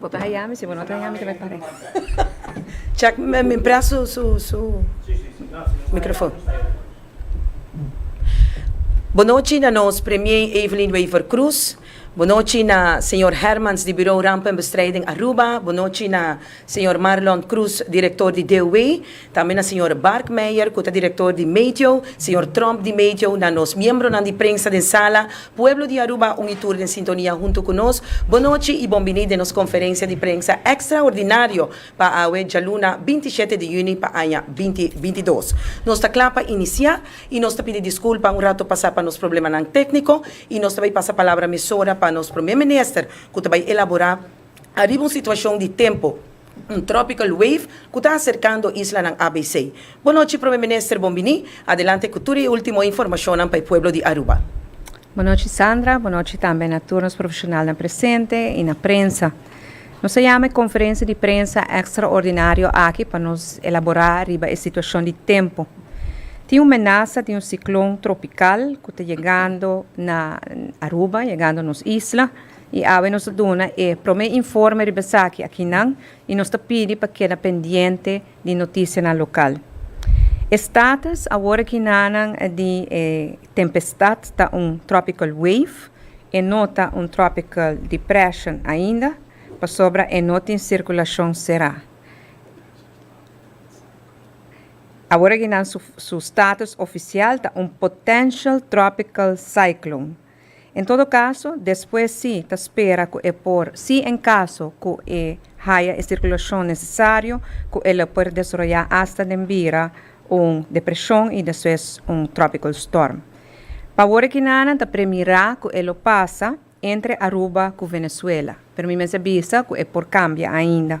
Bo ta haya mi, si bo no ta haya mi ta bay pare. Check mi prest su su su microfon. Bo no chi na nos premier Evelyn Wever Croes, bo no chi na señor Hermans di Bureau Rampenbestrijding Aruba, bo no chi na señor Marlon Croes, director di DOW. Tambe na señor Bark Meijer cu ta director di Meteo, señor Tromp di Meteo, na nos miembronan di prensa den sala, pueblo di Aruba un y tur den sintonia hunto cu nos, bon nochi y bon bini den nos conferencia di prensa extraordinario pa awe djaluna binti shete di juni pa aña binti binti dos. Nos ta cla pa inicia y nos ta pidi disculpa un rato pasa pa nos problemanan tecnico y nos ta bay pasa palabra mesora pa nos Premier Minister cu ta bay elabora Ariba un situashon di tempu, un tropical wave ku ta aserkando islanan ABC. Bonochi Prome Minister bon bini, adelante ku tur e ultimo informashonnan pa e pueblo di Aruba. Bonochi Sandra, bonochi tambe na tur nos profeshonalnan presente i na prensa. Nos a yama e konferensia di prensa ekstraordinario aki pa nos elaborá riba e situashon di tempu. Tin un menasa di un siklon tropikal ku ta yegando na Aruba, yegando nos isla. I awe nos a duna e prome informe riba esaki akinan i nos ta pidi pa keda pendiente di notisianan lokal. E status awor akinanan di e tempestat ta un tropical wave, e no ta un tropical depression ainda pasobra e no tin sirkulacion será. Awor akinan su status oficial ta un potential tropical cyclone. En todo caso, despues si ta spera cu e por, si en caso cu e haya e circulacion necesario, cu el a por desroya hasta den bira un depresion y despues un tropical storm. Pa awor e kinanan ta premira cu e lo pasa entre Aruba cu Venezuela, pero mi mester bisa cu e por cambia ainda.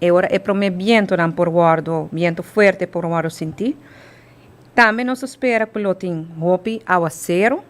E ora e promé bientonan por wòrdu biento fuerte por wòrdu sintí. Tambe nos ta spera ku lo tin hopi áwaseru.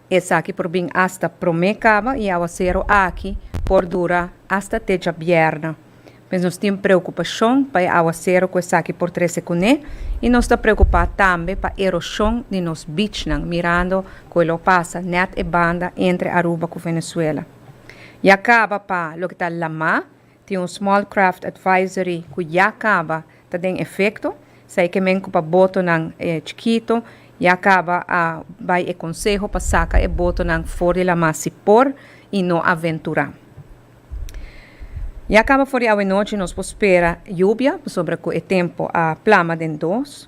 Esaki por bin asta promé kaba i áwaseru aki por dura asta te djabièrnè. Pues nos tin preokupashon pa e áwaseru ku esaki por trese kuné i nos ta preokupá tambe pa eroshon di nos bichnan mirando ku e lo pasa nèt e banda entre Aruba ku Venezuela. Ya kaba pa loke ta lamá. Tin un Small Craft Advisory cu ya caba ta den efecto. Esai ke men cu pa botonan chikito ya caba a bay e conseho pa saca e botonan for di lama si por y no aventura. Ya caba for di awe nochi nos por spera lluvia pasobra cu e tempo a plama den dos.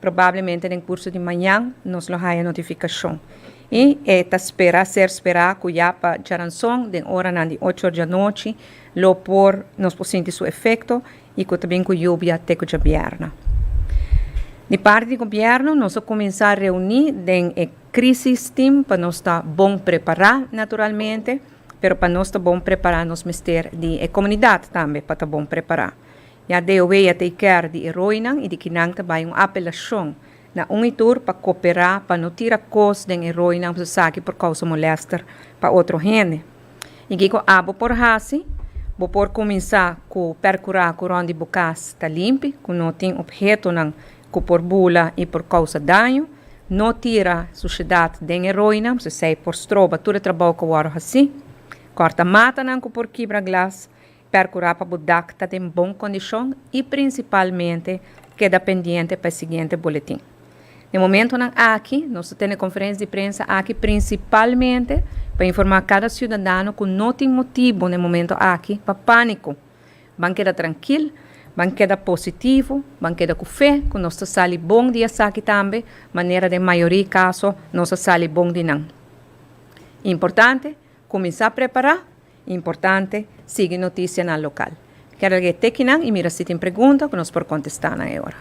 Probablemente den kurso di mañan nos lo haya notifikashon i e ta spera ser spera ku ya pa djaranson den oranan di ocho or djanochi lo por nos por sinti su efekto i ku ta bin ku yubia te ku djabièrnè. Di parti di gobièrnu nos a kuminsá reuní den e Krisis Team pa nos ta bon prepará naturalmente, pero pa nos ta bon prepará nos mester di e komunidat tambe pa ta bon prepará. Ya de oweya ta e kèr di e roinan i di kinan ta bai un apelashon na un i tur pa koperá pa no tira kos den e roinan pasobra esaki por kousa molèster pa otro hende. I kiko abo por hasi? Bo por kuminsá ku pèrkurá ku rònt di bo kas ta limpi, ku no tin ophetonan ku por bula i por kousa daño. No tira sushedat den e roinan pasobra esei por stroba tur e trabou ku a wòrdu hasí. Kòrta matanan ku por kibra glas. Percura pa bo dak ta den bon condicion y principalmente keda pendiente pa e siguiente boletin. Na e momentonan aki nos ta tene conferencia di prensa aki principalmente pa informa cada ciudadano cu no tin motibo na e momento aki pa panico. Ban keda trankil, ban keda positivo, ban keda cu fe cu nos ta sali bon di esaki tambe manera den mayoria caso nos a sali bon di nan. Importante, cuminsa prepara. Importante, sigui notisianan lokal. Keda lege e tekinan i mira si tin pregunta ku nos por kontestá nan e ora.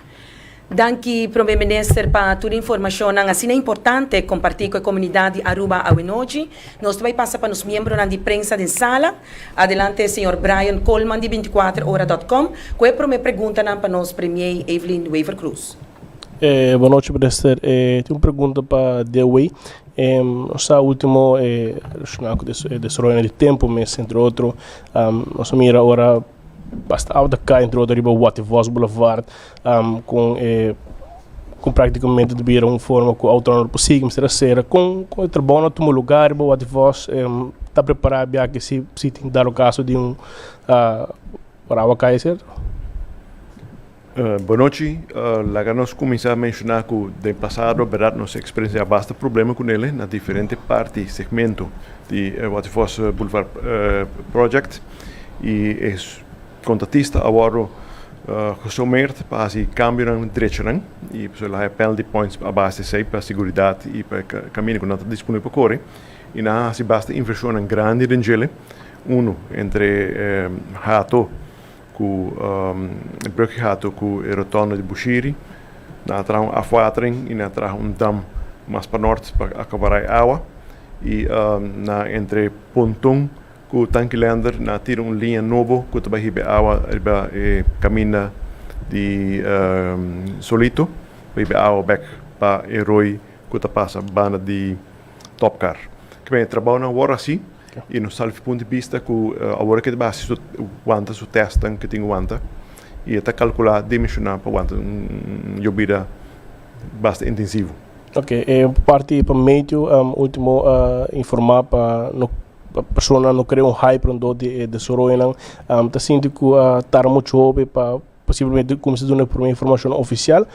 Danki Prome Minister pa tur informashonnan asina importante kompartí ku e komunidat di Aruba awenochi. Nos ta bai pasa pa nos miembronan di prensa den sala. Adelante señor Brian Coleman di binticuatroora.com ku e prome preguntanan pa nos Premier Evelyn Wever-Croes. Bonochi Minister, tin un pregunta pa Dewey. Nos ta ultimo e relashoná ku e desaroyo na e tempu mes, entre otro. Nos a mira ora basta awa ta kai, entre otro riba Watervos Boulevard, ku e, ku praktikamente ta bira un forma ku outo nan lo por sigui mester a sera. Kon kon e trabounan a tuma lugá riba Watervos? Ta prepará biaha si si tin dado kaso di un ora awa kai, serto? Bonochi, laga nos kuminsá menshoná ku den pasado bèrdat nos a eksperensiá basta problema ku Nele na diferente parti, segmento, di e Waterfors Boulevard project i e kontratista a wòrdu gesomeerd pa hasi kambionan drechonan i pasobra el a haña penalty points a base di esei pa seguridat i pa e kaminda ku nan ta disponibel pa kore i nan a hasi basta invershonnan grandi den djele unu entre hato. Ku e bruggehato ku e rotonde di Bushiri nan a traha un afwatering i nan a traha un dam mas pa nort pa akabará e awa. I nan entre Pontun ku Tankilender nan a tira un liña nobo ku ta bai hiba e awa riba e kaminda di Solito pa hiba e awa bek pa e roi ku ta pasa banda di. Top kar. Kibe e trabao nan wor hasi i nos sal pun di bista ku awor ke ta bai hasi su wanta su testnan ke tin ku wanta i e ta kalkulá dimensioná pa wanta un yobida basta intensivo. Oke, e parti pa Matthew ultimo a informá pa no persona no krea un hype rondó di e desoroyonan. Ta sinti ku a tarda muchu hopi pa posiblemente kuminsá duna e promé informashon ofisial?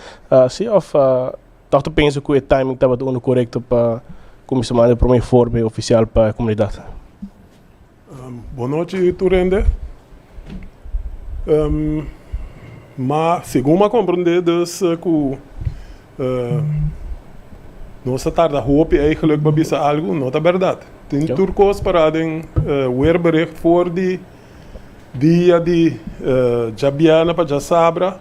Si òf. Tòg ta pensa ku e timing tabata unda korekto pa kuminsá manda e promé informe ofisial pa e komunidat. Bon nochi tur hende. Ma segun bo a komprendé dus ku nos a tarda hopi eigenlik pa bisa algu, no ta bèrdat. Tin tur kos pará den weerbericht for di. Dia di djabièrnè pa djasabra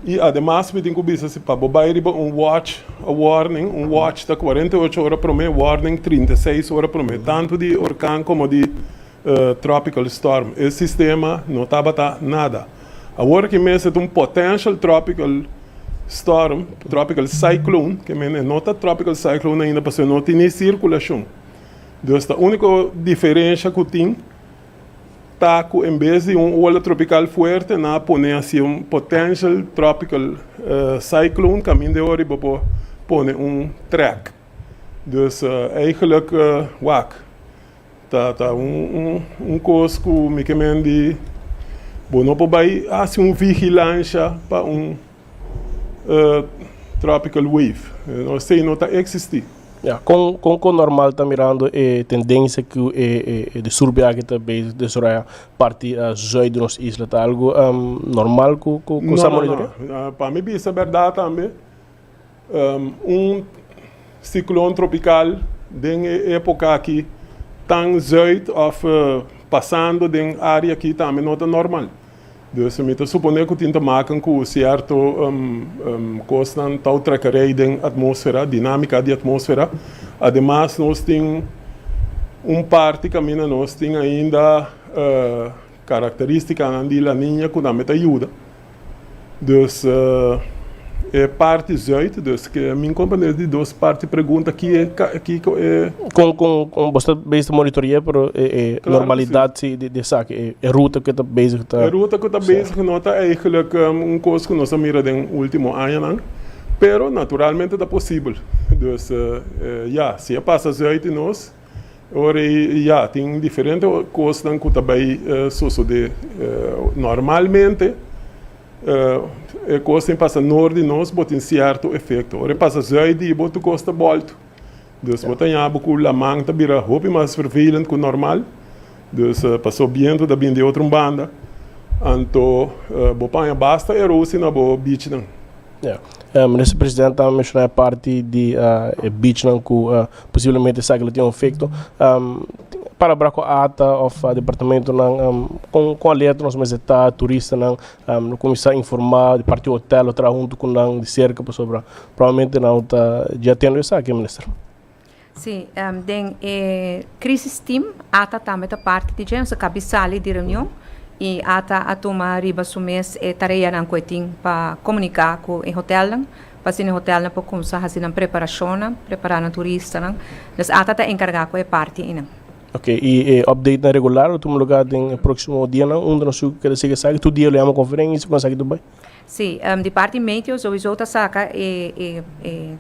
i ademas mi tin ku bisa si pa bo bai riba un wòch a wòrning. Un wòch ta kuarenta i ocho ora promé, wòrning trinta i seis ora promé, tantu di orkan komo di tropical storm. E sistema no tabata nada. Awor aki mes e ta un potential tropical storm, tropical cyclone, ke mene no ta tropical cyclone ainda pasobra e no tin ni sirkulashon. Dus ta úniko diferensha ku tin. ta ku en bes di un ola tropikal fuerte nan a pone hasi un potential tropical cyclone kaminda e ora riba bo pone un track. Dus eigenlijk wak ta ta un kos ku mi ke mendi bo no por bai hasi un vigilansha pa un. tropical wave. Esei no ta eksistí. Ya, kon kon ku normal ta mirando e tendensia ku e e disturbio aki ta bezig desaroya parti zùit di nos isla? Ta algu normal ku ku sa monitor'é? Pa mi bisa bèrdat tambe. Un siklon tropikal den e époka akí tan zuid òf pasando den área akí tambe no ta normal. Dus mi ta suponé ku tin ta maken ku sierto kosnan tau treka rei den atmósfera, dinámika di atmósfera. Ademas nos tin un parti kaminda nos tin ainda Karakterístikanan di La Niña ku nan me ta yuda. Dus e parti zuid, dus ke mi komprende es di dos parti pregunta ki e kiko e. Kon kon kon boso ta bezig ta monitorea pero e e normalidat si di di esaki e e ruta ku e ta bezig ta. E ruta ku ta bezig no ta eigelijk un kos ku nos a mira den ultimo añanan, pero naturalmente ta posibel. Dus ya si e pasa zuid di nos. Ora ei, ya, tin diferente kosnan ku ta bai sosodé normalmente. E kos tin pasa noor di nos, bo tin sierto efekto. Ora e pasa zui di bo, tur kos ta bolto. Dus bo ta yabi ku laman ta bira hopi mas vervelend ku normal. Dus paso bientu ta bin di otro un banda, anto bo paña basta e rosi na bo bichnan. Ya. Minister Presidente a menshona e parti di e bichnan ku posiblemente esaki lo tin un efekto. Palabra ku ata òf departamentunan, kon kon alerta nos mester ta turistanan? Lo kuminsá informá di parti hotel, lo traha huntu ku nan di serka pasobra probablemente nan lo ta djia tende esaki, Minister. Sí, den e crisis team ata tambe ta parti di dje, nos a kabi sali di reunion y ata a tuma riba su mes e tareanan cu e tin pa comunica cu e hotelnan pa asina e hotelnan por cuminsa haci nan preparacionnan, prepara nan turistanan, nos ata ta encarga cu e parti einan. Ok, y e updatenan regular lo tuma lugar den e proximo dianan, unda nos a keda sigue esaki? Tur dia lo yama conferencia? Con esaki tur bay? Sí, di parti metio souiso ta saka e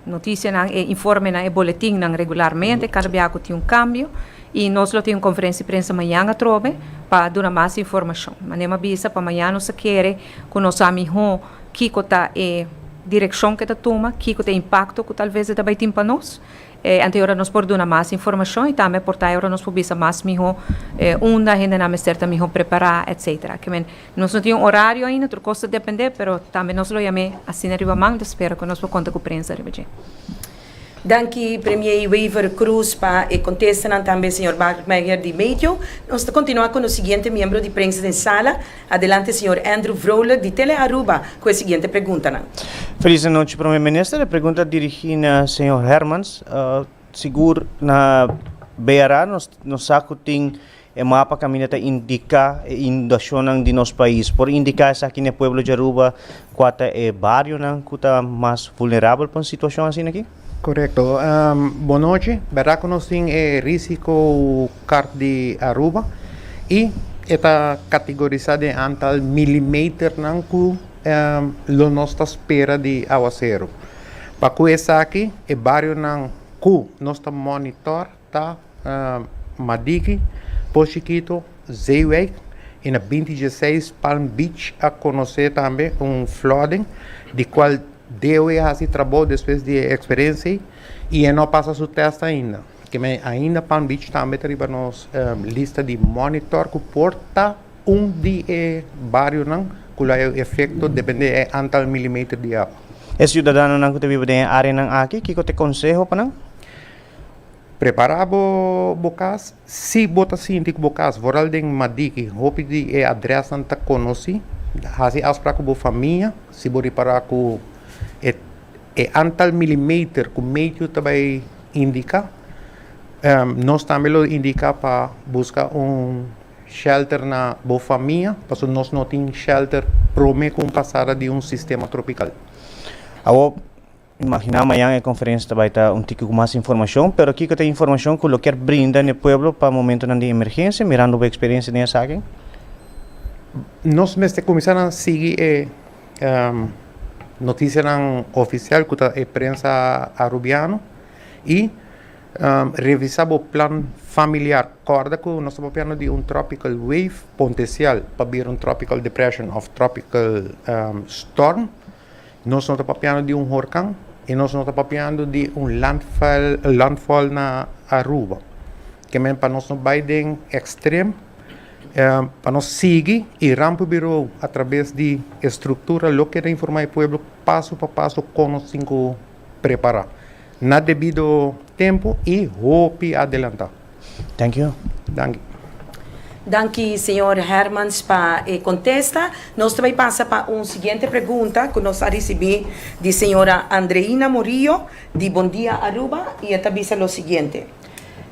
notisianan, e informenan, e boletinnan regularmente, kada bia ku tin un kambio, i nos lo tin un konferensia di prensa mañan atrobe pa duna mas informashon. Ma Nema bisa pa mañan nos ta kere ku nos sa mihó kiko ta e direkshon ke ta tuma, kiko ta e impakto ku talves e ta bai tin pa nos, anto e ora nos por duna mas informashon i tambe e por ta e ora nos por bisa mas mihó unda hendenan mester ta mihó prepará, etsetera. Nos no tin un orario ainda, tur kos ta dependé, pero tambe nos lo yam'é asina riba manta, spera ku nos por konta ku prensa riba dje. Danki Premier Wever Croes pa e kontestanan tambe señor Bart Meijer di Meteo. Nos ta kontinuá ku nos siguiente miembro di prensa den sala. Adelante señor Andrew Vrolijk di Tele Aruba ku e siguiente preguntanan. Felis anochi Prome Minister, e pregunta dirigí na señor Hermans. Sigur na BRA nos nos sa ku tin E mapa kaminda ta indiká e inundashonnan di nos pais. Por indiká esaki n'e pueblo di Aruba kua ta e barionan ku ta mas vulnerabel pa un situashon asina aki? Korekto. Bon nochi. Bèrdad ku nos tin e risiko kart di Aruba i e ta katigorisá den antal milimeternan ku lo nos ta spera di áwaseru. Pa kue esaki e barionan ku nos ta mònitor ta Madiki, Por Chiquito, Zeewijk y na binti dieseis Palm Beach a conoce tambe un flooding di cual DOE a haci trabou despues di e experiencia ey y e no a pasa su test ainda. Keme ainda Palm Beach tambe ta riba nos lista di monitor cu por ta un di e barionan cu lo a hayo efecto depende di e antal milimeter di awa. E ciudadanonan cu ta biba den e areanan aki kico ta e conseho pa nan? Prepara bo bo kas, si bo ta sinti ku bo kas foral den Madiki hopi di e adrèsnan ta konosí, hasi afsprak ku bo famia, si bo ripará ku e antal milimeter ku Meityu ta bai indiká, nos tambe lo indiká pa buska un shèlter na bo famia, pasobra nos no tin shèlter promé ku un pasada di un sistema tropikal. Imaginá mañan e konferensia ta bai ta un tiki ku mas informashon, pero kiko ta e informashon ku lo kier brinda n'e pueblo pa momentonan di emergensia, mirando bo eksperensia den esaki? Nos mester kuminsá nan sigui e notisianan ofisial ku ta e prensa Arubiano i revisá bo plan familiar. Kòrda ku nos ta papiando di un tropical wave pontesial pa bira un tropical depression òf tropical storm. Nos no ta papiando di un horkan i nos no ta papiando di un landfall na Aruba. Kemen pa nos no bai den ekstrem, pa nos sigui e ramp birou a trabes di e struktura lo keda informá e pueblo paso pa paso kon nos tin ku prepara na debido tempo y hopi adelanta. Thank you. Danki. Danki señor Hermans pa e contesta. Nos ta bay pasa pa un siguiente pregunta cu nos a ricibi di señora Andreina Murillo di Bon Dia Aruba y e ta bisa lo siguiente,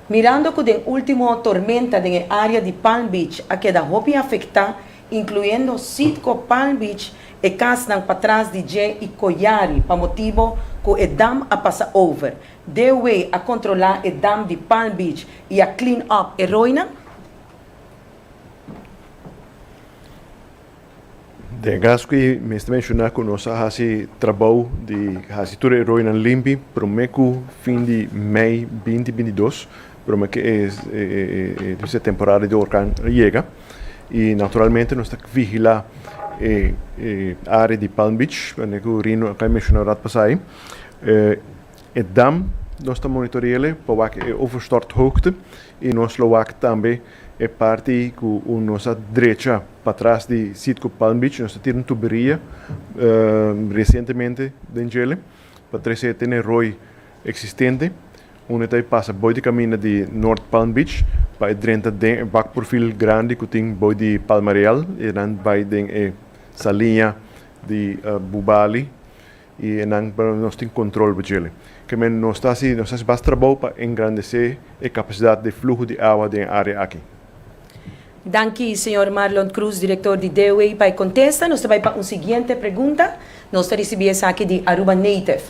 Mirando cu den ultimo tormenta den e area di Palm Beach a keda hopi afecta, incluyendo Citgo, Palm Beach, e casnan patras di dje y Coyari pa motibo cu e dam a pasa over. Dewey a controla e dam di Palm Beach y a clean up e roinan. Den caso aki mester menciona cu nos a haci trabou di haci tur e roinan limpi prome cu fin di mei binti binti dos Broma ke e dise temporada di orkan a yega i naturalmente nos ta vigilá e área di Palm Beach, kuande ku Rino a kai menshona rat pasai. E dam nos ta monitore'e pa wak e overstorthoogte i nos lo wak tambe e parti ku unda nos a drecha patras di sit ku Palm Beach, nos ta tira un tuberia resientemente den djele pa trese tene roi eksistente. Unda e ta e pasa boi di kaminda di North Palm Beach pa e drenta den e bak purfil grandi ku tin boi di Palma Real i enan bai den e saliña di Bubali i enan pa nos tin kontrol oba djele. Kemen nos ta hasi nos ta hasi bas trabou pa engrandesé e kapasidat di fluho di awa den e área aki. Danki señor Marlon Cruz director di DOE pa e contesta. Nos ta bay pa un siguiente pregunta. Nos ta ricibi esaki di Aruba Native.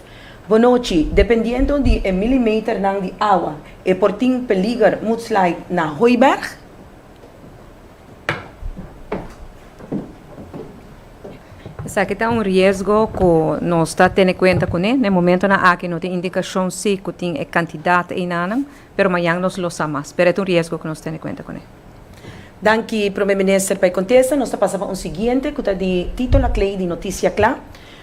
Bo nochi, dependiendo di e milimeternan di awa e por tin peliger mudslide na Hooiberg? Esaki ta un riesgo cu nos ta tene cuenta cune. Na e momentonan aki no tin indicacion si cu tin e cantidad einanan. Pero mañan nos lo sa mas. Pero e ta un riesgo cu nos tene cuenta con e. Danki Prome Minister pa e contesta. Nos ta pasa pa un siguiente cu ta di Tito Lacley di Noticia Cla.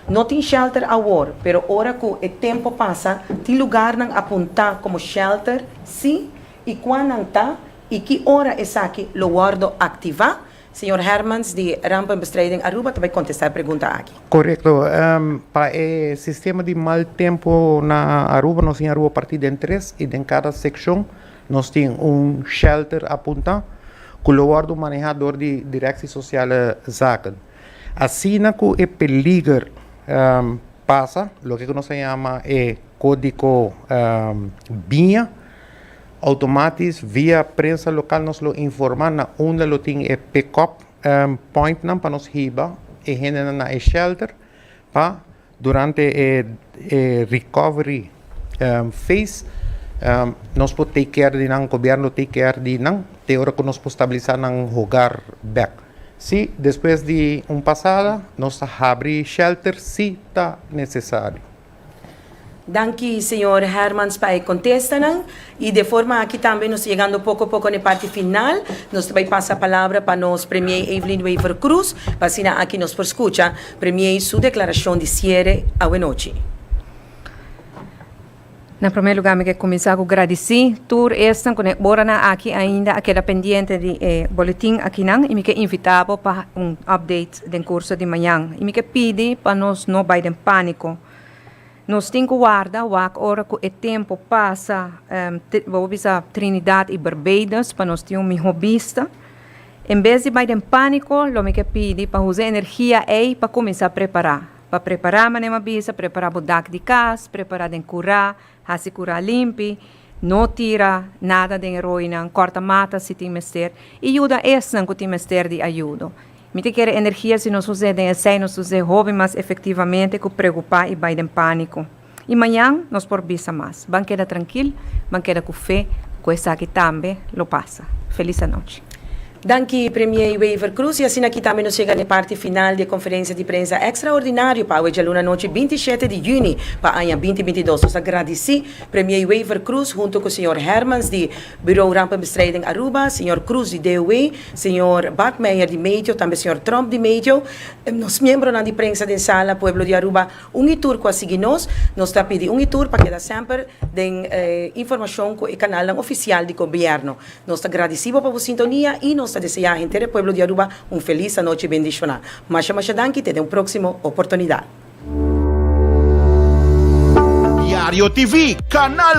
No tin shelter awor, pero ora cu e tempo pasa tin lugarnan a punta como shelter, si y cua nan ta y ki ora esaki lo wordo activa, Señor Hermans di Rampenbestrijding Aruba ta bay contesta e pregunta aki. Correcto. Pa e sistema di mal tempo na Aruba, nos tin Aruba parti den tres y den cada seccion nos tin un shelter a punta cu lo wordo maneha door di Directie Sociale Zaken. Asina cu e peliger pasa, loke cu nos ta yama e codico biña, Automatis via prensa lokal nos lo informa na unda lo tin e pick-up pointnan pa nos hiba e hendenan na e shelter pa durante e recovery phase nos por take care di nan, gobièrnu lo take care di nan te ora ku nos por stabilisa nan hogar bèk. Si despues di un pasada nos ta habri shelter si ta nesesario. Danki señor Hermans pa e contestanan. Y de forma aki tambe nos ta yegando poco poco n'e parti final. Nos ta bay pasa palabra pa nos Premier Evelyn Wever Croes, pa asina aki nos por scucha Premier su declaracion di ciere awe nochi. Na primer lugar mi ke cuminsa cu gradici tur esnan cu n'e oranan aki ainda a keda pendiente di e boletin akinan y mi ke invita bo pa un update. den curso di mañan y mi ke pidi pa nos no bay den panico. Nos tin cu warda wak ora cu e tempo pasa bo bisa Trinidad y Barbados pa nos tin un miho bista. En bes di bay den panico lo mi ke pidi pa usa e energia ey pa cuminsa prepara. Pa prepara manera mi a bisa prepara bo dak di cas, prepara den cura, Hasi kura limpi, no tira nada den e roinan, kòrta mata si tin mester i yuda esnan ku tin mester di ayudo. Mi ta kere energia si nos us'é den esei nos us'é hopi mas efektivamente ku preokupá i bai den pániko. I mañan nos por bisa mas. Ban keda trankil, ban keda ku fe ku esaki tambe lo pasa. Felis anochi. Danki Premier Wever Croes y asina kita mi nos yega n'e parti final di e conferencia di prensa extraordinario pa awe djaluna nochi binti shete di juni pa aña binti binti dos. Nos ta gradici Premier Wever Croes hunto cu señor Hermans di Bureau Rampenbestrijding Aruba, señor Croes di DOW, señor Bakmeijer di Meteo tambe señor Tromp di Meteo, nos miembronan di prensa den sala, pueblo di Aruba un y tur cu a sigui nos. Nos ta pidi un y tur pa keda semper den informacion cu e canalnan oficial di gobierno. Nos ta gradisí bo pa bo sintonia i nos ta deseá henter e pueblo di Aruba un felis anochi bendishoná. Masha masha danki te den un próksimo oportunidat. Diario TV, Kanal